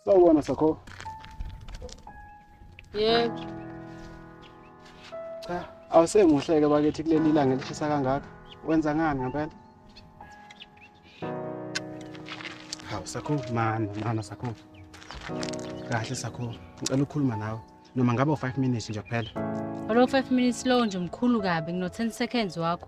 Sawubona Sakho. Yebo. Cha, awusemuhleke bakithi kuleli ilanga elishisa kangaka. Wenza ngani ngempela? Hawu Sakho, mana, mana Sakho. Kahle Sakho, ngicela ukukhuluma nawe. Noma ngaba u5 minutes nje kuphela. Olo 5 minutes lowo nje mkhulu kabi ngino 10 seconds wakho.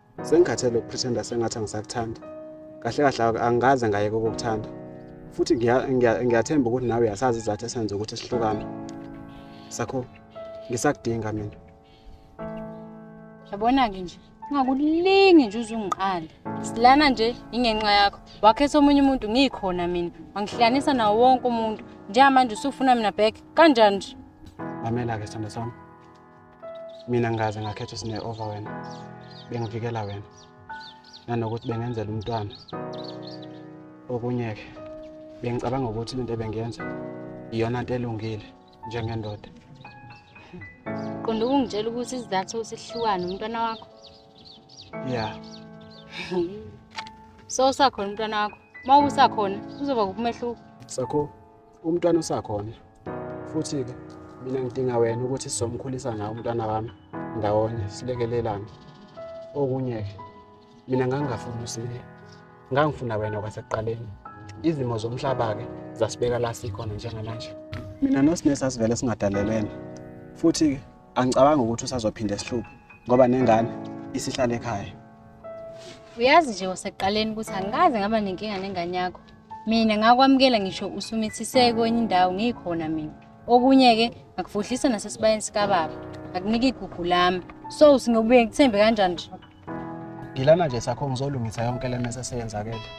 Sengikhathele ukupretenda sengathi angisakuthanda. Kahle kahle angikaze ngayeke ukukuthanda. Futhi ngiyathemba ukuthi nawe uyasazi izathu esenze ukuthi sihlukane. Sakho ngisakudinga mina. Yabona-ke nje ungakulingi nje uzungiqala silana nje ingenxa yakho wakhetha omunye umuntu ngikhona mina wangihlanisa nawo wonke umuntu njengamanje usufuna mina back kanjani nje mamela-ke sithando sami mina ngaze ngakhetha usine over wena bengivikela wena nanokuthi bengenzela umntwana okunye-ke bengicabanga ukuthi lento ebengiyenza iyona nto elungile njengendoda qonda ukungitshela ukuthi isizathu sihlukane umntwana wakho ya so usakhona umntwana wakho uma usakhona kuzoba kumehluko sakho umntwana usakhona futhi-ke mina ngidinga wena ukuthi sizomkhulisa nawo umntwana wami ndawonye silekelelane okunye-ke mina ngangingafuni usiye ngangifuna wena kwasekuqaleni izimo zomhlaba-ke zasibeka la sikhona njengamanje mina nosine sasivele singadalelene futhi-ke angicabangi ukuthi usazophinde sihluphe ngoba nengane isihlale ekhaya uyazi nje wasekuqaleni ukuthi angikaze ngaba nenkinga nengane yakho mina ngakwamukela ngisho usumithise kwenye indawo ngikhona mina okunye-ke ngakufudlisa nasesibayeni sikababa ngakunika igugu lami so singobuye ngithembe kanjani nje ngilana nje sakho ngizolungisa yonke le mese seyenzakele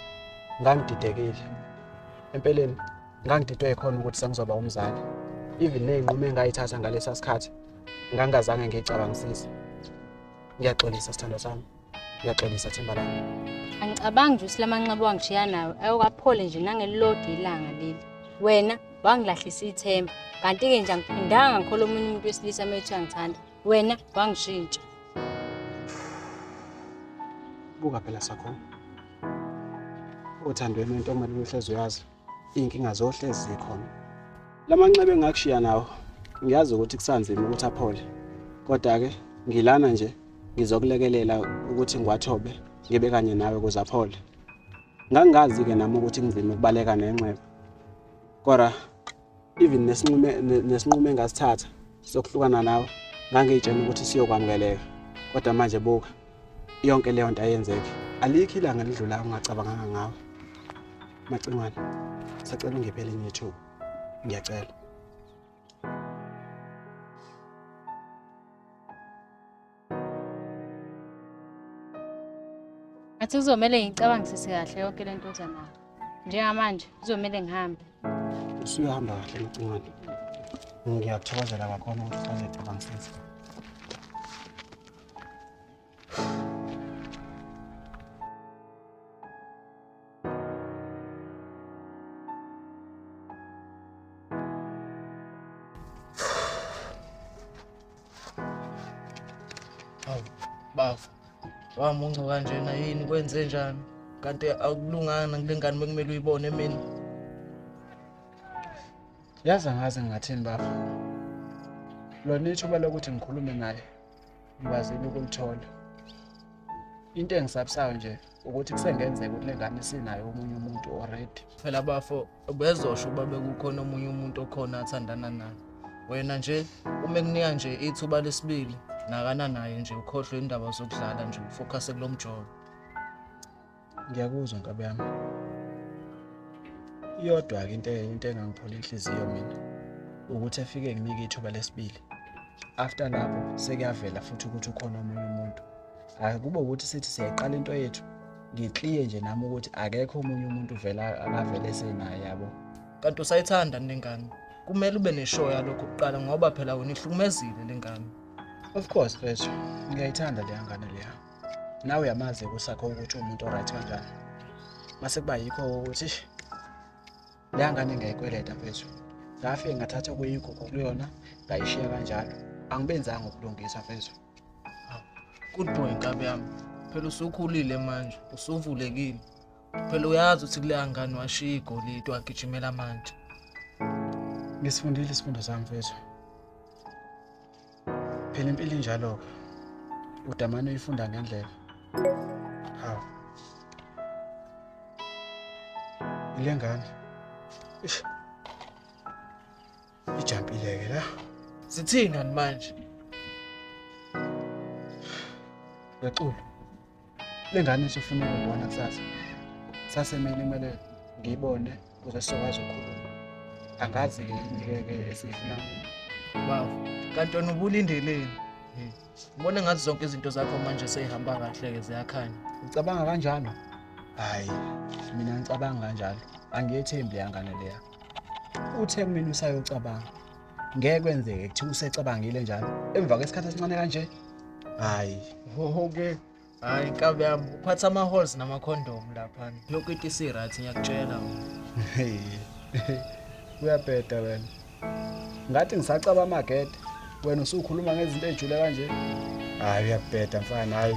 ngangididekile empeleni ngangididwe yikhona ukuthi sengizoba umzali even ney'nqumo engayithatha ngalesa sikhathi ngangingazange ngiyicabangisise ngiyaxolisa sithando sami Uyaxolisa themba lami. Angicabangi nje usilamanxeba wangishiya nawe ayokaphole nje nangelilodi ilanga leli. Wena wangilahlisa ithemba kanti-ke nje angiphindanga ngikhola omunye umuntu wesilisa uma ethi angithanda wena wangishintsha. Buka phela sakho. Othandweni wentombazane uhlezi uyazi. iy'nkinga zohlezi zikhona la manxeba engakushiya nawo ngiyazi ukuthi kusanzima ukuthi aphole kodwa-ke ngilana nje ngizokulekelela ukuthi ngiwathobe ngibe kanye nawe ukuze aphole ngangingazi-ke nami ukuthi kunzima ukubaleka nenxeba kodwa even nesinqume nesinqumo engasithatha sokuhlukana nawe ngangiyitshena ukuthi siyokwamukeleka kodwa manje buka yonke leyo nto ayenzeki alikho ilanga lidlula ungacabanganga ngawe macingwane sacela ungiphe elinye ithuba ngiyacela Ngathi kuzomele ngicabangisise kahle yonke le nto oza nayo. Njengamanje kuzomele ngihambe. Usuyahamba kahle Mcimane. Ngiyakuthokozela kakhulu ukuthi usazocabangisisa. wamunca kanjena yini kwenze njani kanti akulunganga kule ngane bekumele uyibone mina yazi angazi ngingathini baba lona ithuba lokuthi ngikhulume naye ngikwazile ukulithola into engisabisayo nje ukuthi kusengenzeka ukuthi le ngane sinayo omunye umuntu already phela bafo bezosho uba bekukhona omunye umuntu okhona athandana naye wena nje uma ekunika nje ithuba lesibili nakana naye nje ukhohlwe indaba zokudlala nje ufokhase kulo mjobo ngiyakuzwa nkabi yami iyodwa-ke into into engangiphola inhliziyo mina ukuthi efike nginike ithuba lesibili after lapho sekuyavela futhi ukuthi ukhona omunye umuntu hhayi kube ukuthi sithi siyayiqala into yethu ngikliye nje nami ukuthi akekho omunye umuntu vela akavele esenaye yabo kanti usayithanda nengane kumele ube neshow yalokho kuqala ngoba phela wena ihlukumezile lengane of course mfethu ngiyayithanda leya ngane leya nawe uyamazi kusakho ukuthi umuntu oright kanjani mase kuba yikho ukuthi leya ngane ngayikweleta mfethu ngafike ngathatha okuyigugu kuyona ngayishiya kanjalo angibenzanga ukulungisa mfethu good boy nkabi yami phela usukhulile manje usuvulekile phela uyazi ukuthi kuleya ngane washiya igolide wagijimela manje ngisifundile isifundo sami mfethu phela impilo injalo-ke udamane uyifunda ngendlela hawu ile ngane ish ijampile-ke la sithini kanti manje ngexulu Le ngane isifuna ukubona kusasa. Sase mina kumele ngiyibone kuze sizokwazi ukukhuluma. Angazi ngeke esifuna. Bafo, kanti wena ubulindeleni? Ngibona ngathi zonke izinto zakho manje seyihamba kahle-ke ziyakhanya. Ucabanga kanjalo? Hhayi, mina ngicabanga kanjalo. Angiyethembi yangane leya. Uthe kumina usayocabanga. ngeke kwenzeke kuthiwa usecabangile njalo emva kwesikhathi esincane kanje hayi oke hayi nkabi yami uphatha ama-halls namakhondom laphana yonke into isi-right ngiyakutshela uyabheda wena ngathi ngisacaba amagede wena usukhuluma ngezinto ey'jule kanje hayi uyabheda mfana hayi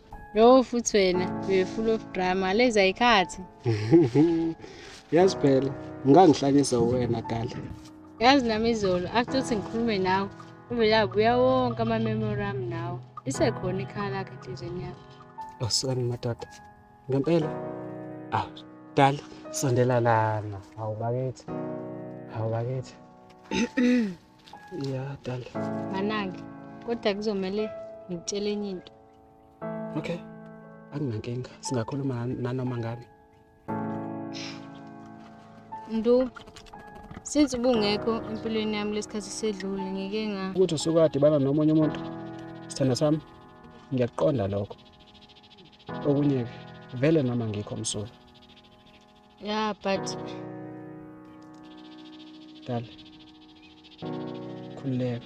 Yo futhi wena uye full of drama leza ikhathi. Yazi phela ngangihlanyisa wena kale. Yazi nami izolo after ukuthi ngikhulume nawe uvele abuya wonke ama memory ami nawe. Isekhona ikhala lakhe enhlizweni yakho. Awusani madoda. Ngempela. Ah, dala sondela lana. Hawu bakithi. Hawu bakithi. ya dala manange kodwa kuzomele ngikutshele enye into okay akunankinga singakhuluma nanoma ngani ndu since ubungekho empilweni yami lesikhathi sedlule ngike nga ukuthi usuke adibana nomunye umuntu sithanda sami ngiyakuqonda lokho okunye-ke vele noma ngikho msula Yeah, but Dala. Khululeka.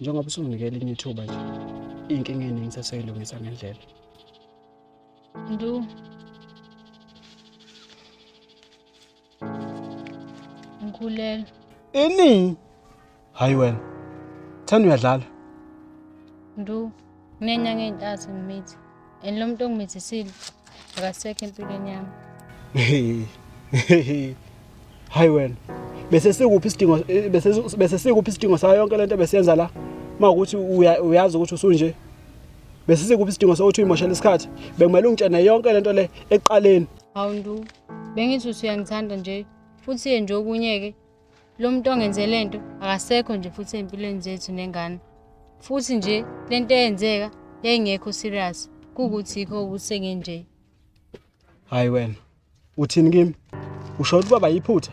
Njengoba usunginikela elinye ithuba nje. Inkinga eningi saseyilungisa ngendlela. Ndu. Ngikhulelwe. Ini? hayi wena thanda uyadlala ndu nginenyanga ey'ntathu ngimithi and lo muntu ongimithisile akasekho empilweni yami hayi wena bese sikuphi isidingo eh, bese bese sikuphi isidingo sayo yonke lento besenza la mawukuthi uyazi ukuthi usunje bese sikuphi isidingo sokuthi uyimoshela isikhathi bekumele ungitshene yonke lento le eqaleni awundu bengithi usuyangithanda nje futhi ye nje okunye ke Lo muntu ongenze le nto akasekho nje futhi ey'mpilweni zethu nengane. Futhi nje le nto eyenzeka yayingekho serious kuwukuthi yikho ukuthi sengenje. Hayi wena, uthini kimi? Usho ukuthi baba yiphutha?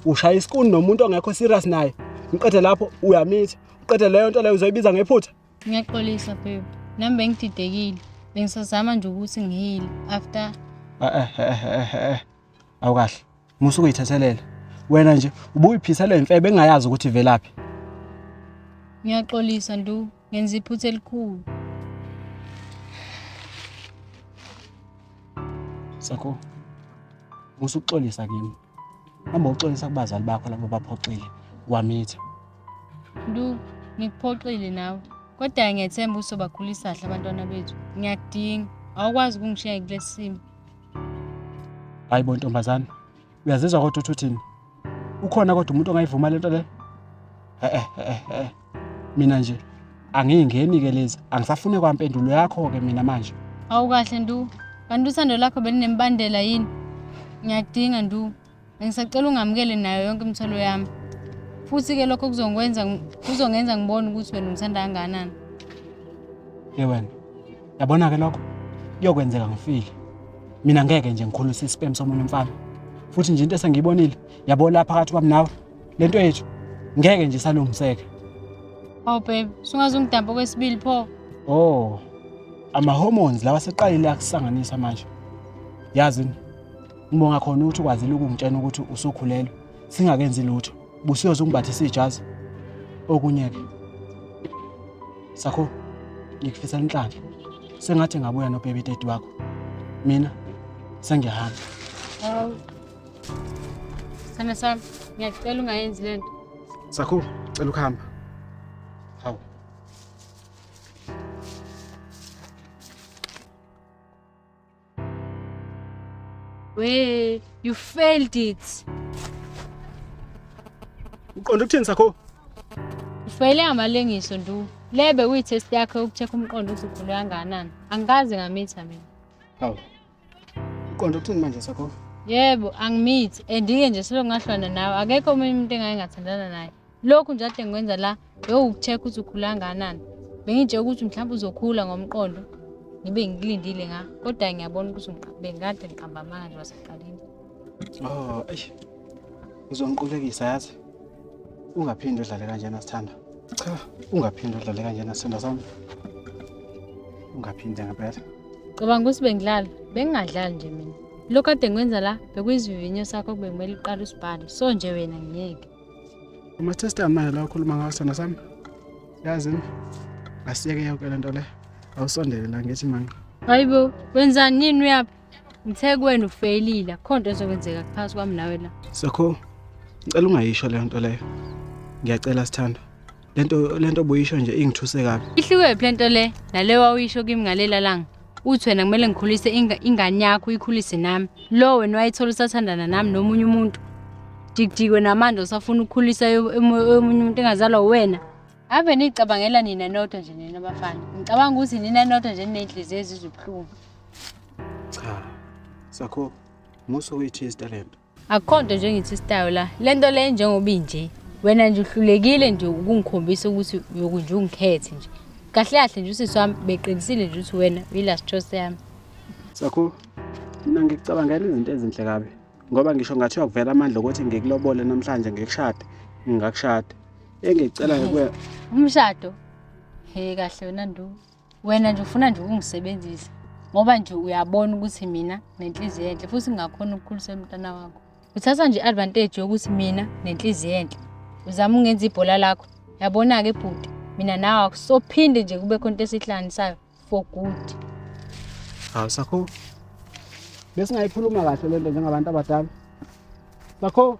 Ushaya isikuni nomuntu ongekho serious naye. Ngiqede lapho uyamitha. Uqede leyo nto leyo uzoyibiza ngephutha. Ngiyaxolisa babe. Nami bengididekile. Bengisazama nje ukuthi ngihile after. Eh eh eh eh. Awukahle. Musa ukuyithethelele. Wena nje ubuyiphisa le mfebe engayazi ukuthi ivelaphi. Ngiyaxolisa ndu, ngenza iphutha elikhulu. Sakho. Musa ukuxolisa kimi. Hamba uxolisa kubazali bakho labo baphoxile wamitha. Ndu, ngikuphoxile nawe. Kodwa ngiyethemba usobakhulisa kahle abantwana bethu. Ngiyakudinga. Awukwazi ukungishiya kulesimo. hayi bo ntombazane uyazizwa kodwa uthi uthini ukhona kodwa umuntu ongayivuma lento le eh eh eh mina nje angiyingeni ke lezi angisafune kwampendulo yakho ke mina manje awukahle ndu kanti usando lakho belinembandela yini ngiyadinga ndu Ngisacela ungamukele nayo yonke imithwalo yami. Futhi-ke lokho kuzongikwenza kuzongenza ngibone ukuthi wena ungithanda kangakanani. Ye wena, yabona-ke lokho kuyokwenzeka ngifile. Mina ngeke nje ngikhulise isipemu somunye umfana. Futhi nje into esengiyibonile, yabo la phakathi kwami nawe, le nto yethu ngeke nje isalungiseka. Hawu babe, sungaze ungidambe okwesibili pho. Oh, ama-hormones lawa seqalile akusanganisa manje. Yazi Ngibonga khona ukuthi ukwazile ukungitshena ukuthi usukhulelwe singakenzi lutho. Busiyoze ungibathise ijazi. Okunye ke. Sakho ngikufisa inhlanhla. Sengathi ngabuya no baby daddy wakho. Mina sengiyahamba. Hawu. Sana sana, ngiyacela ungayenzi lento. Sakho, cela ukuhamba. Hawu. We, you failed it. Uqonda ukuthini sakho? Ufele amalengiso ndu. Lebe kuyi test yakhe ukucheck umqondo ukuthi ukhulu kangakanani. Angikaze ngamitha mina. Hawu. Uqonda ukuthini manje sakho? Yebo, angimithi. Andike nje selongahlwana nawe. Akekho omunye umuntu engayengathandana naye. lokhu nje ade ngikwenza la bewukucheck ukuthi ukhula kangakanani bengitshela ukuthi mhlawumbe uzokhula ngomqondo ngibe ngikulindile nga kodwa ngiyabona ukuthi bengikade ngiqamba amanga nje wasekuqaleni oh eish uzongiqulekisa yazi ungaphinde udlale kanjena sithanda cha ungaphinde udlale kanjena sithanda sami ungaphinde ngempela cabanga ukuthi bengidlala bengingadlali nje mina lokhu kade ngikwenza la bekuyizivivinyo sakho bekumele uqale usibhale so nje wena ngiyeke Ama-system manje la ukhuluma ngawo sona sami yazi asiyeke yonke le nto le awusondele la ngithi manga hayi bo wenzani nini uyaphi ngithe kuwena ufeyilile akukho nto ezokwenzeka kuphakathi kwami nawe la sakho ngicela ungayisho leyo nto leyo ngiyacela sithandwa lento lento buyisho nje ingithuse kabi ihluke phi lento le nale wawuyisho kimi ngalela langa uthi wena kumele ngikhulise ingane yakho uyikhulise nami lo wena wayithola usathandana nami nomunye umuntu jikijikwe namanje usafuna ukukhulisa omunye umuntu engazalwa wena ave niyicabangela nina nodwa nje nina bafana ngicabanga ukuthi nina nodwa nje niney'nhliziyo ezizobuhlungu cha sakho muso uyithi isitalento akukho nto nje engithi istayo la le nto le njengoba inje wena nje uhlulekile nje ukungikhombisa ukuthi uyoku nje ungikhethe nje kahle kahle nje usisi wami beqinisile nje ukuthi wena uyi-last choice yami sakho mina ngikucabangela izinto ezinhle kabi ngoba ngisho ngathi uyakuvela amandla okuthi ngikulobole namhlanje ngikushade ngingakushada engicelayo kuwe umshado he kahle wena nduku wena nje ufuna nje ukungisebenzisa ngoba nje uyabona ukuthi mina nenhliziyo enhle futhi ngingakhona ukukhulisa umntana wakho uthatha nje i-advantage yokuthi mina nenhliziyo enhle uzama ungenza ibhola lakho yabona-ke bhuti mina nawe akusophinde nje kube khona into esihlanganisayo for good hawu sakho besingayikhuluma kahle le nto njengabantu abadala sakho